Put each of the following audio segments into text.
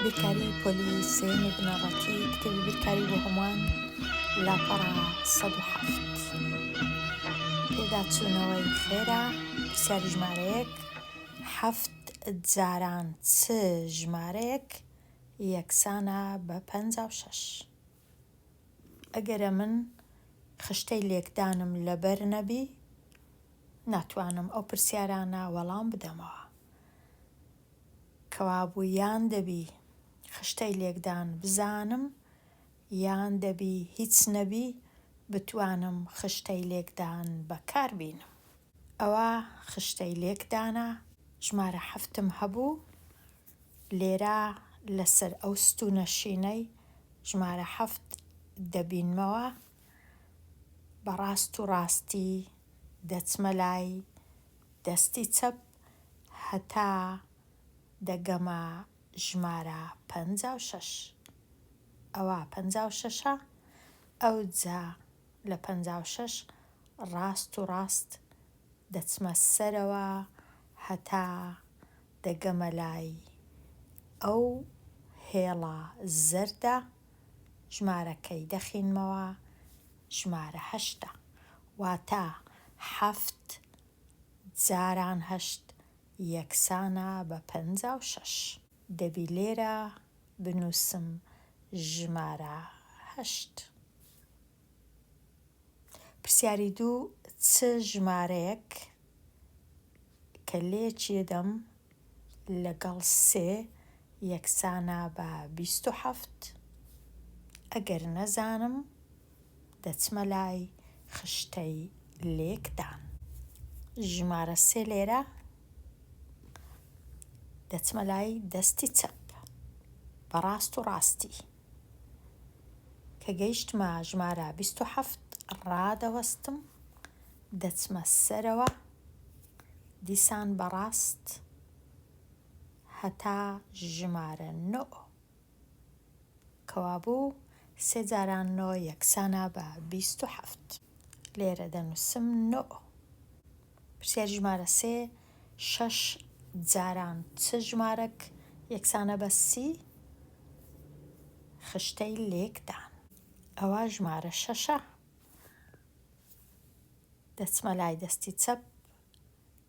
بیرکاری پۆلی سێیەمی بنەڕەتی کتێبی بیرکاری بۆ هەمووان لاپەڕە سەد و حەفت پێداچوونەوەی خێرا پرسیاری ژمارەیەک حەفت جاران چ ژمارەیەک یەکسانە بە پەنجا و شەش ئەگەرە من خشتەی لێکدانم لەبەر نەبی ناتوانم ئەو پرسیارانە وەڵام بدەمەوە. کەوابوو یان دەبی خشتەی لێکدان بزانم یان دەبی هیچ نەبی بتوانم خشتەی لێکدان بەکار بینم. ئەوا خشتەی لێکدانە ژمارە حەفتم هەبوو لێرە لەسەر ئەو ستوونە شینەی ژمارە حەفت دەبینمەوە بە ڕاست و ڕاستی دەچمە لای دەستی چەپ هەتا دەگەمە ژمارە پەنجا و شەش ئەوا پەنجا و شەشە ئەوجا لە پەنجا و شەش ڕاست و ڕاست دەچمە سەرەوە هەتا دەگەمە لای ئەو هێڵە زەردە ژمارەکەی دەخینمەوە ژمارە هەشتە واتە حەفت جاران هەشت یەکسانە بە پەنجا و شەش. دەبی لێرە بنووسم ژمارە هەشت. پرسیاری دوو، چ ژمارەیەک کە لێکی دەدەم لەگەڵ سێ یەکسانە بە بیست و حەفت، ئەگەر نەزانم دەچمە لای خشتەی لێکدان. ژمارە سێ لێرە دەچمە لای دەستی چەپ بە ڕاست و ڕاستی. کە گەیشتمە ژمارە بیست و حەفت ڕادەوەستم دەچمە سەرەوە دیسان بەڕاست هەتا ژمارە نۆ. کەوابوو سێ جاران نۆ یەکسانە بە بیست و حەفت. لێرە دەنووسم نۆ. پرسیاری ژمارە سێ، شەش جاران چ ژمارەک یەکسانە بە سی؟ خشتەی لێکدان. ئەوا ژمارە شەشە. دەچمە لای دەستی چەپ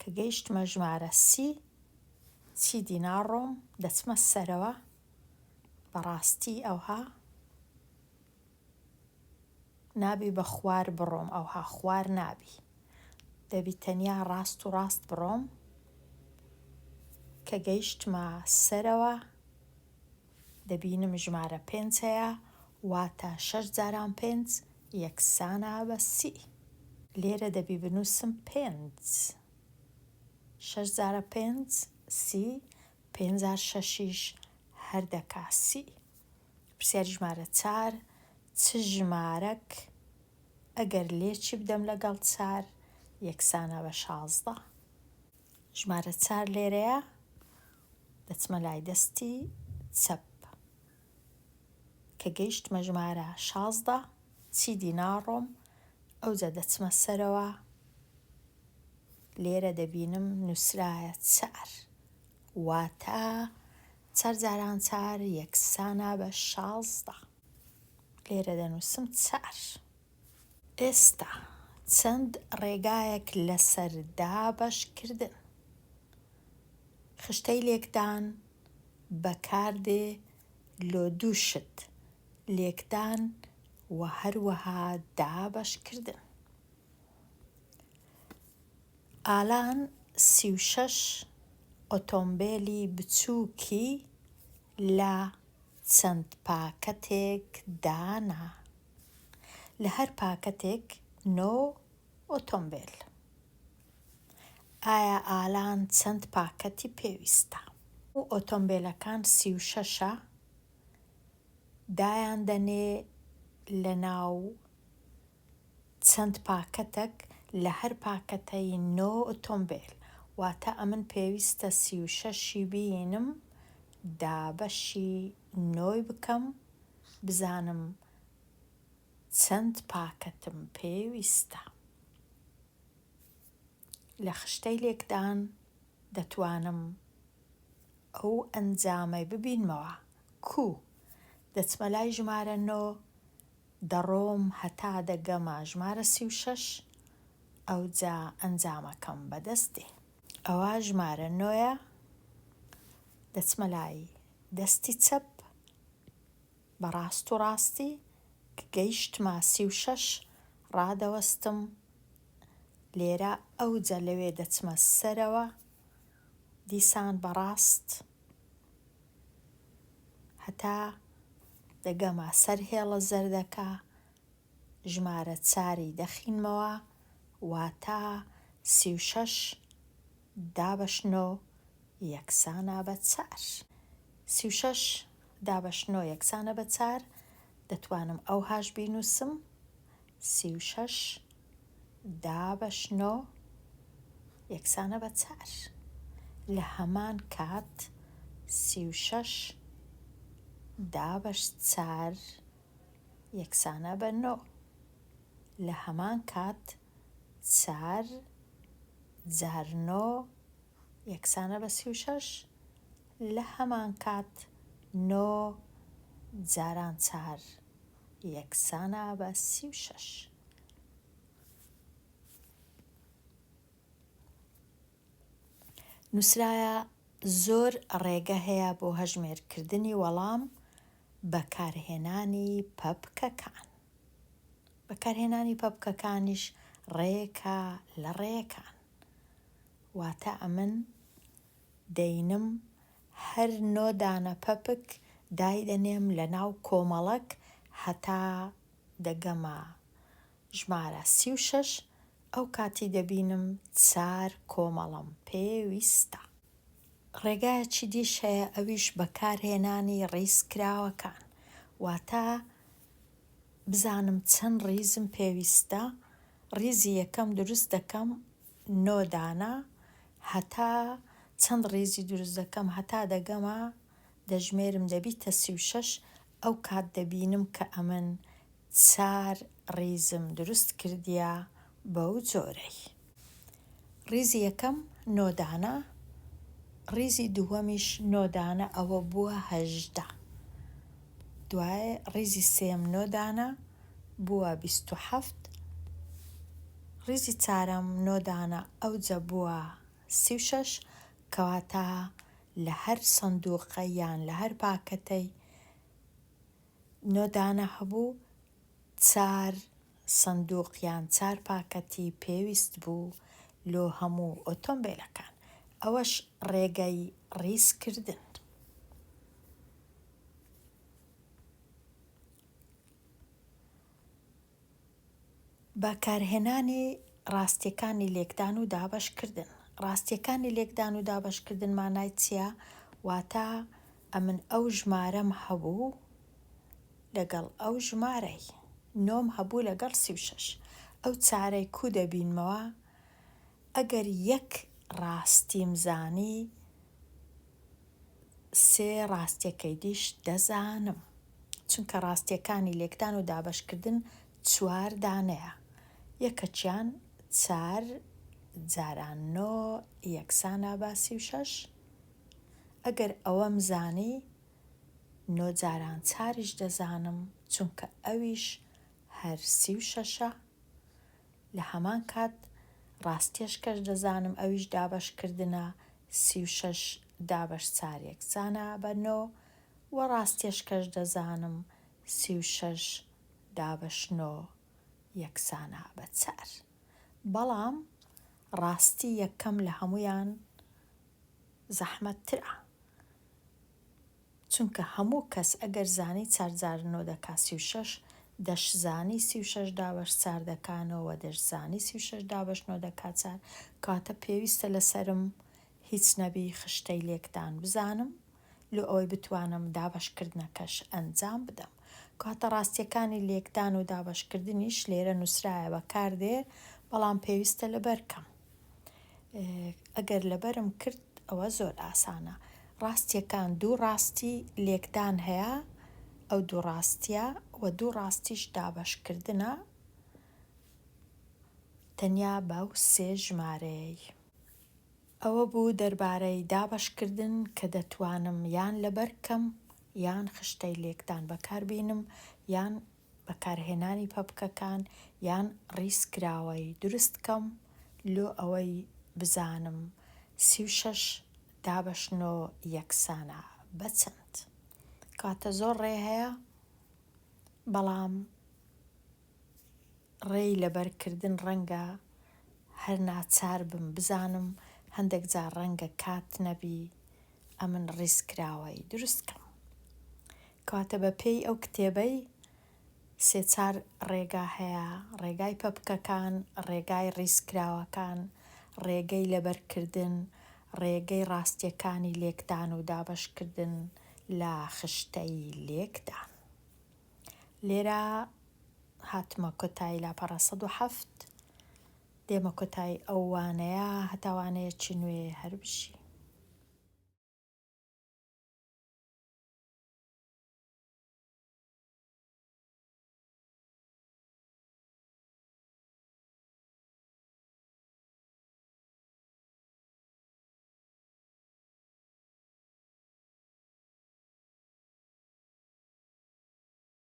کە گەیشتمە ژمارە سی چیدی ناڕۆم دەچمە سەرەوە بەڕاستی ئەوها نابی بە خوار بڕۆم ئەوها خوار نابی دەبی تەنیا ڕاست و ڕاست بڕۆم کە گەیشتمە سەرەوە دەبینم ژمارە پێنج هەیە واتە شەش جاران پێنج یەکسانە بە سی لێرە دەبی بنووسم پێنج شەش جارە پێنج سی پێنج جار شەشیش هەر دەکا سی پرسیاری ژمارە چار چ ژمارەک ئەگەر لێکی بدەم لەگەڵ چار یەکسانە بە شازدە ژمارە چار لێرەیە دەچمە لای دەستی چەپ. کە گەیشتمە ژمارە شازدە، چیدی ناڕۆم، ئەوجا دەچمە سەرەوە، لێرە دەبینم نووسرایە چار، واتە چار جاران چار یەکسانە بە شازدە. لێرە دەنووسم چار. ئێستا چەند ڕێگایەک لەسەر دابەش کردن خشتەی لێکدان بەکاردێ لۆ دوو شت، لێکدان و هەروەها دابەش کردن. ئالان سی و شەش ئۆتۆمبێلی بچووکی لە چەند پاکەتێک دانا. لە هەر پاکەتێک نۆ ئۆتۆمبێل. ئایا ئالان چەند پاکەتی پێویستە؟ ئۆتۆمبێلەکان سی و شەشە دایان دەنێ لە ناو چەند پاکەتەک لە هەر پاکەتەی نۆ ئۆتۆمبێل واتە ئەمن پێویستە سی و شەشی بینم دابەشی نۆی بکەم بزانم چەند پاکەتم پێویستە لە خشتەی لێکدان دەتوانم ئەو ئەنجامەی ببینمەوە کو دەچمە لای ژمارە نۆ دەڕۆم هەتا دەگەمە ژمارە سی و شەش ئەوجا ئەنجامەکەم بەدەست دێ. ئەوە ژمارە نۆیە دەچمە لای دەستی چەپ بە ڕاست و ڕاستی کە گەیشتمە سی و شەش ڕادەوەستم لێرە ئەوجە لەوێ دەچمە سەرەوە دیسان بە ڕاست هەتا دەگەمە سەر هێڵە زەردەکە ژمارە چاری دەخینمەوە واتا سی و شەش دابەش نۆ یەکسانە بە چار. سی و شەش دابەش نۆ یەکسانە بە چار دەتوانم ئەوهاش بینووسم سی و شەش دابەش نۆ یەکسانە بە چار لە هەمان کات سی و شەش دابەش چار یەکسانە بە نۆ. لە هەمان کات چار جار نۆ یەکسانە بە سی و شەش، لە هەمان کات نۆ جاران چار یەکسانە بە سی و شەش. نووسرایە زۆر ڕێگە هەیە بۆ هەژمێرکردنی وەڵام بەکارهێنانی پەپکەکان بەکارهێنانی پەپکەکانیش ڕێکە لە ڕێکان واتە ئەمن دەینم هەر نۆ دانە پەپک دایدەنێم لە ناو کۆمەڵک هەتا دەگەمە ژمارە سی و شەش ئەو کاتی دەبینم چار کۆمەڵەم پێ ویستە. ڕێگایەکی دیش هەیە ئەویش بەکار هێنانی ڕیز کراوەکان واتە بزانم چەند ڕیزم پێ ویستە ڕیزی یەکەم دروست دەکەم نۆ دانە هەتا چەند ڕیزی دروست دەکەم هەتا دەگەمە دەژمێرم دەبیتە سی و شەش ئەو کات دەبینم کە ئەمن چار ڕیزم دروست کردیە بەو جۆرەی. ڕیزی یەکەم نۆ دانە ڕیزی دووەمیش نۆ دانە ئەوە بووە هەژدە دوای ڕیزی سێم نۆ دانە بووە بیست و حەفت ڕیزی چارەم نۆ دانە ئەوجە بووە سی و شەش کەواتە لە هەر سندوقە یان لە هەر پاکەتەی نۆ دانە هەبوو، چار سندوق یان چار پاکەتی پێویست بوو لۆ هەموو ئۆتۆمبێلەکان، ئەوەش ڕێگەی ڕیزکردن. بەکارهێنانی ڕاستیەکانی لێکدان و دابەشکردن ڕاستیەکانی لێکدان و دابەشکردن مانای چیە واتا ئەمن ئەو ژمارەم هەبوو لەگەڵ ئەو ژمارەی نۆم هەبوو لەگەڵ سی و شەش ئەو چارەی کو دەبینمەوە ئەگەر یەک ڕاستیم زانی سێ ڕاستیەکەی دیش دەزانم، چونکە ڕاستیەکانی لێکدان و دابەشکردن چوار دانەیە، یەکەکیان چار جاران نۆ یەکسانە بە سی و شەش، ئەگەر ئەوەم زانی نۆ جاران چاریش دەزانم، چونکە ئەویش هەر سی و شەشە، لە هەمان کات ڕاستیش کەش دەزانم ئەویش دابەشکردنە سی و شەش دابەش چار یەکسانە بە نۆ وە ڕاستیش کەش دەزانم سی و شەش دابەش نۆ یەکسانە بە چار بەڵام ڕاستی یەکەم لە هەموویان زەحمەت ترە. چونکە هەموو کەس ئەگەر زانی چار جار نۆ دەکا سی و شەش، دەش زانی سی و شەش دابەش چار دەکا نۆ وە دەش زانی سی و شەش دابەش نۆ دەکا چار، کەواتە پێویستە لەسەرم هیچ نەبی خشتەی لێکدان بزانم لۆ ئەوەی بتوانم دابەشکردنەکەش ئەنجام بدەم. کەواتە ڕاستیەکانی لێکدان و دابەشکردنیش لێرە نووسرایە بەکاردێ بەڵام پێویستە لەبەر کەم. ئەگەر لەبەرم کرد ئەوە زۆر ئاسانە. ڕاستیەکان دوو ڕاستی لێکدان هەیە ئەو دوو ڕاستیە وە دوو ڕاستیش دابەشکردنە تەنیا بەو سێ ژمارەیەی. ئەوە بوو دەربارەی دابەشکردن کە دەتوانم یان لەبەر کەم یان خشتەی لێکدان بەکار بینم یان. بەکارهێنانی پەپکەکان یان ڕیز کراوەی دروست کەم لۆ ئەوەی بزانم سی و شەش دابەش نۆ یەکسانە بە چەند کاتە زۆر ڕێ هەیە بەڵام ڕێی لەبەر کردن ڕەنگە هەر ناچار بم بزانم هەندێک جار ڕەنگە کات نەبی ئەمن ڕیزکراوەی دروست کەم کەواتە بە پێی ئەو کتێبەی سێ چار ڕێگا هەیە ڕێگای پەپکەکان ڕێگای ڕیزکراوەکان ڕێگەی لەبەرکردن ڕێگەی ڕاستیەکانی لێکدان و دابەشکردن لە خشتەی لێکدان لێرە هاتمە کۆتایی لاپەڕە سەد و حەفت دێمە کۆتایی ئەو وانەیە هەتا وانەیەکی نوێ هەر بژی.